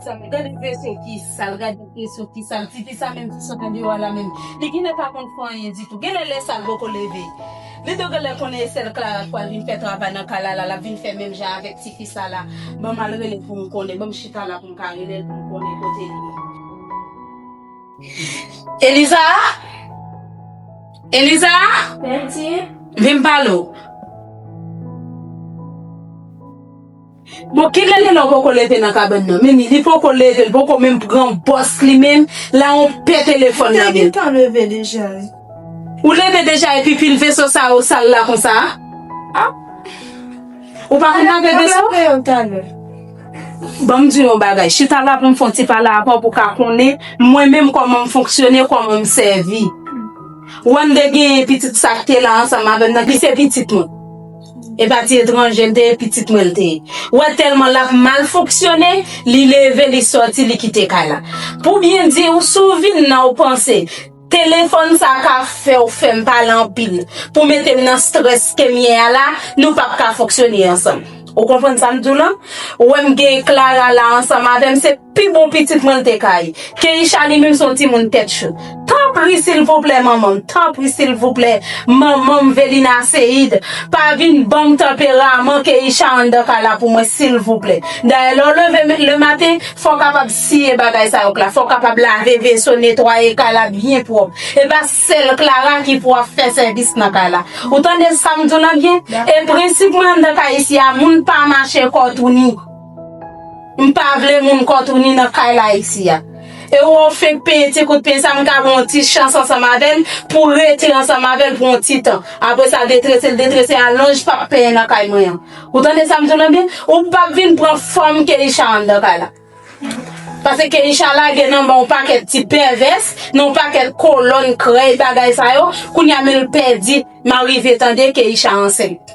Sa m gade vre se ki sa l gade vre se ki sa l pipi sa menm ki sot andeyo a la menm li gen lè pa konn fè anyen ditou gen lè lè sa l poko leve li do gen lè konnen e sèl Clara k pral vin fè travay nan kay la la l ap vin fè menm jan avèk ti fi sa la ban m al rele l pou m konnen ban m chita la pou m ka rele l pou m konnen kote l ye Eliza Eliza Vin m pale w. Bon kilè Lilò poko leve nan kabann nan mimi li poko leve li poko menm pran bòs li menm la on pè telefòn nan menm. Mwen te gentan leve deja wi. Ou leve deja epi pil veso sa yo sal la konsa a? Ou pa konn lave veso? Map lave yo talè. Banm diw yon bagay, chita la poum fon ti pale avèw pou w ka konnen mwen menm kòman m fonksyone, kòman m sèvi. Wande genyen pitit sa k te la ansanm avèm nan ki se pitit mwen. E pa ti etranje l te ye, pitit mwen l te ye. Wè tèlman l ap mal fonksyone, li leve li sòti li kite kay la. Pou byen di w si w vin nan w panse telefòn sa ka fè w fè m pale anpil pou mete m nan strès ke m ye a la nou p ap ka fonksyone ansanm. Ou konprann sa m di w lan? Wè m gen Clara la ansanm avè m se. Pi bon pitit mwen l te ka ye. Keïsha li menm se yon timoun tèt cho. Tanpri silvouplè manmanm tanpri silvouplè manmanm Velina Ceide pa vin banm tanperaman Keïsha anndan kay la pou mwen silvouplè. Dayè lè w leve le maten fò w kapab siye bagay sa yo Cla, fò w kapab lave veso netwaye kay la byen pwòp. E pa sèl Clara ki pou ap fè sèvis nan kay la. Ou tande sa m di w lan byen? E prensip mwen anndan kay isi a moun pa mache kò touni. M pa vle moun kontouni nan kay la isi a. E ou ou fenk peye ti kout peny sa m ka yon ti chans ansanm avè l pou w rete ansanm avè l pou yon ti tan. Apre sa detrese l detrese a lonj pa p peye nan kay mwen an. Ou tande sa m di w lan byen? Ou pa p vin pran fòm Keïsha anndan kay la. Pase Keïsha lage nan men w pakèt ti pèvès, nan w pakèt kolòn krèy bagay sa yo, kounye a men l pèdi. M a rive tande Keïsha ansent.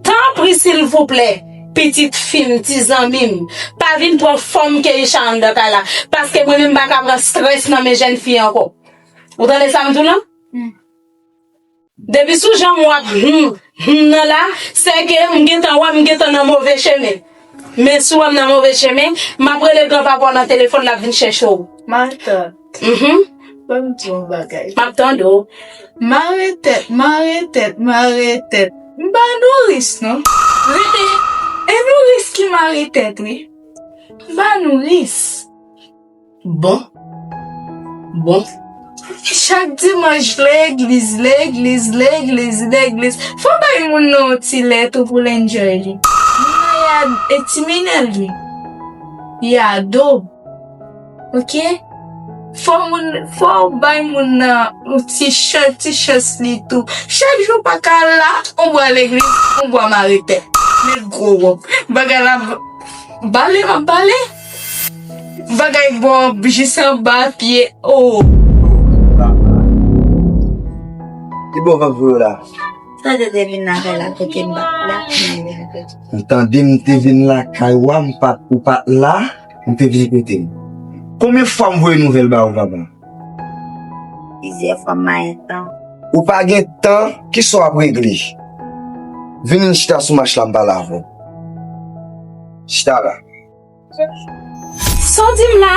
Tanpri silvouplè pitit fim ti zanmim pa vin pran fòm Keïsha anndan kay la paske mwen menm mpaka pran strès nan men jèn fi ankò ou tande sam diw lan depi sou janm wap humm humm nan la sèke mgentan wèm mgentan nan move chemen men si wèm nan move chemen map rele gran papaw nan telefòn lap vin chèchew. Mhm. Fèm di yon bagay. Map tande w. Mare tèt, mare tèt, mare tèt. M pa nouris non. Rete. E nouris ki mare tèt wi. M pa nouris. Bon. Bon. Chak dimanch legliz, legliz, legliz, legliz. Fò bay moun nan yon ti lè tou pou l enjoy li. Moun nan ya e timinel li. Li ado. Ok? Fò moun, fò ou bay moun nan yon ti chan, ti chans li tou. Chak jou pa ka la, on bwa legliz, on bwa mare tè. Met gwo wòb. Bagay la ap bale, ap bale. Bagay bon jis anba pye. Oh! Ki bò vant vre la? Sa te te vin lakay la kote m bat la. M tande m te vin lakay wa, m pat, ou pat la. Ou te vini kote m. Konbyen fwa m voye nouvèl ba ou papa? Plizyè fwa m manyen tan. Ou pa gen tan, ki sa w ap regle? Vini n chita sou mach la m pale avè w. Chita la. Sa w di m la?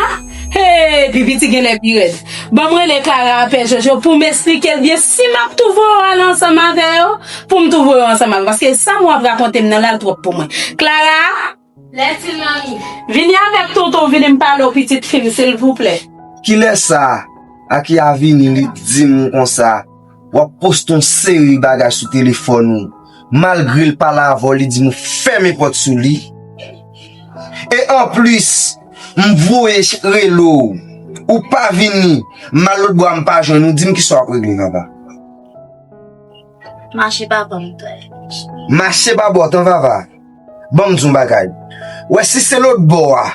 Hee pi piti genlè pi rèd. Ban m rele Kara a pè Jojo pou m esplike l byen si m ap tou voye w ale ansanm avè yo pou m tou voye w ansanm avè l paske sa m w ap rakonte m nan la l twòp pou mwen. Klara! Lèsil nan mi. Vini avèk tonton vini m pale w pitit fi m silvouplè. Kilè sa Aki a vini li t dim konsa wap poste yon seri bagay sou telefòn ou malgre l pale avè w li dim ou fèmen pòt sou li e anplis m voye rele w ou pa vini m al lotbò a m pa jwenn ou dim kisa wap regle papa. Mache pa banm tray bouch. Mache pa bò tan vava. Banm diw bagay. Wè si se lòt bò a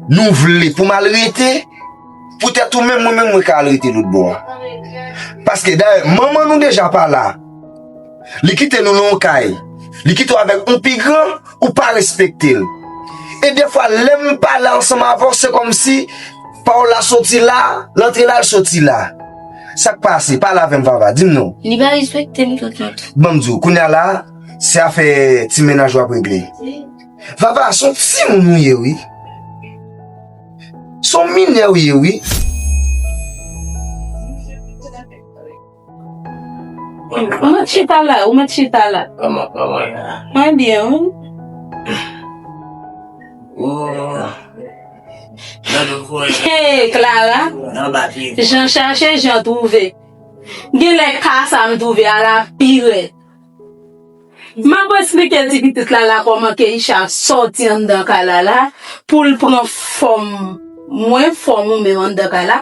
nou vle pou mal rete pou tèt ou menm mwen menm mwen ka al rete lòt bò a. Paske dayè manman nou deja pa la. Li kite nou nan yon kay. Li kite w avèk yon pi gran ou pa respekte l. E defwa lèm pale ansanm avèw se kòmsi pa w la soti la, l antre la l soti la. Sak pase? Pale avèm vava, dim non. Li pa respektem tout non tou. Banm diw, kounya la se afè ti mennaj wap regle. Vava, son timoun ou ye wi. Son minè ou ye wi. Ou met chita la, ou met chita la. Kòman, kòman. Mwen byen ou menm? Ooh. Hey Clara, jan chache jan twouve Gen lè ka sa m twouve a la pi rèd M ap esplike ti pitit Lala kòman Keïsha sòti anndan kay Lala pou l pran fòm mwen, fòm ou menm anndan kay la.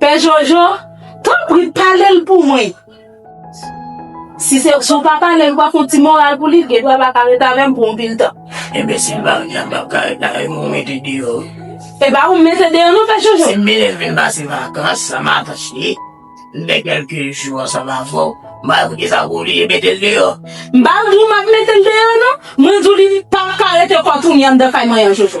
Pè Jojo, tanpri pale l pou mwen. Si se w pa pale l, pa fon ti moral pou li, l gen dwa pa ka ret avè m pou anpil tan. Enbesil Marina, m pap ka ret avè m, ou mete deyò wi. E pa ou m mete deyò non, Pè Jojo. Si Milèn vin pase vakans san matant li, m fè kèlke jou ansanm avè w, m pa wè pou kisa w pa oblije mete l deyò. M pa di w m ap mete l deyò non, mwen di w li pap ka rete kò tounen anndan kay mwen an, Jojo.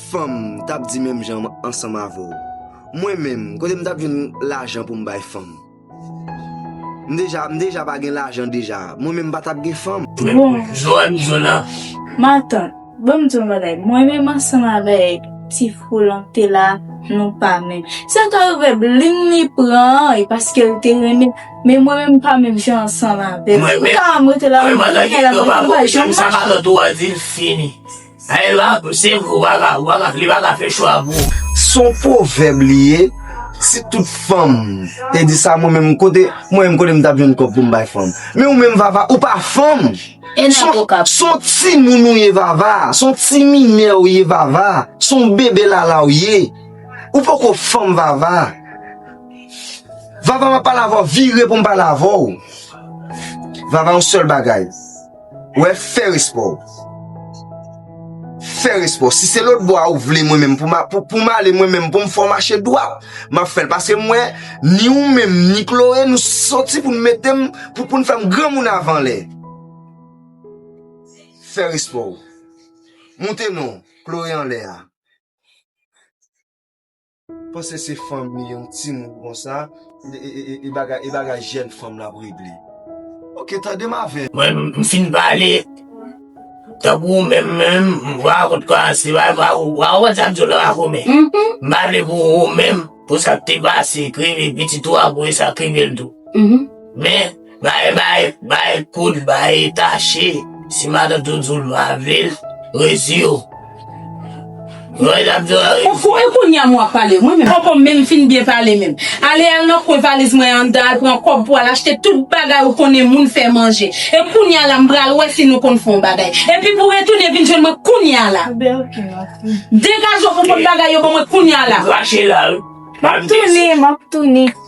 Fanm, m tap di menm jan ansanm avè w. Mwen menm, kote m tap jwenn lajan pou m bay fanm? M deja, m deja pa gen lajan deja. Mwen menm m pa tap gen fanm. Bon, matant, ban m di w yon bagay. Mwen menm ansanm avèk ti Frolan te la, nou pa menm. Sa ka rive bling li pran an e paske l te renmen, men mwen menm m pa menm jan ansanm avè l. Mwen menm, mwen menm an tanke gran pa vòt, m pa janm mache. Sa matant ou a di l fini. Sa e la pou se vre ou pa ka ou pa ka li pa ka fè chwa pou ou. Son pwovèb li ye, si tout fanm te di sa mwen menm kote mwen menm kote m tap jwenn kòb pou m bay fanm. Men ou menm vava ou pa fanm, son timoun ou ye vava, son ti minè ou ye vava, son bebe lala ou ye, ou poko fanm vava. Vava map pale avèw vire pou m pale avèw. Vava yon sèl bagay. Wè fè respè w. Fè respè w. Si se lòt bò a ou vle mwen menm pou m ale mwen menm pou m fè w mache dwat, m ap fè l. Paske m wè ni ou menm ni Chloé nou soti pou nou mete m, pou nou fè m granmoun avan lè. Fè respè w. Moute non, Chloé anlè a. Panse se fanmi yon timoun konsa e bagay e bagay jèn fanm la ap regle ok tande m avèm. Mwen m fin pale tankou ou menm menm m vwa kot kwa se pa vwa ou pa konprann sa m di w la kome m pale pou ou menm pou sa k te pase k rive pitit ou a pou e sa k rive l tou men Bay bay bay kout bay tache si madan tou djou lwa vil rezi yo Mwen tap djou a rezi yo. Ou e kounya mwen ap pale mwen menm poko menm fin byen pale menm ale al nan kwen valiz mwen an dan al pran kob pou al achte tout bagay ou konnen moun fè manje e kounya la m pral wè si nou konn fon bagay epi pou retounen vin jwenn mwen kounya la degaje ou fon bagay yo ban mwen kounya la. Map tounen map tounen.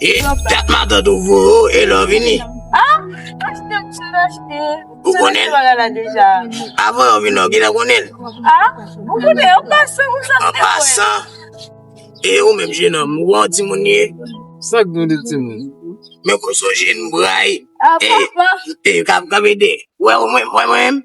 E dat matant ou vo e lò vini? Ha? Achte m sou achte. Ou konnen? Ou konnen la deja. Avan yo vini ou genlè konnen? Ha? Ou konnen an pasan ou sa. An pasan. E ou menm jenom ou an ti moun ye? Sak gen de ti moun? Men kòso jen bray. Ha papa. E kap kap ede. Ou wè mwen menm?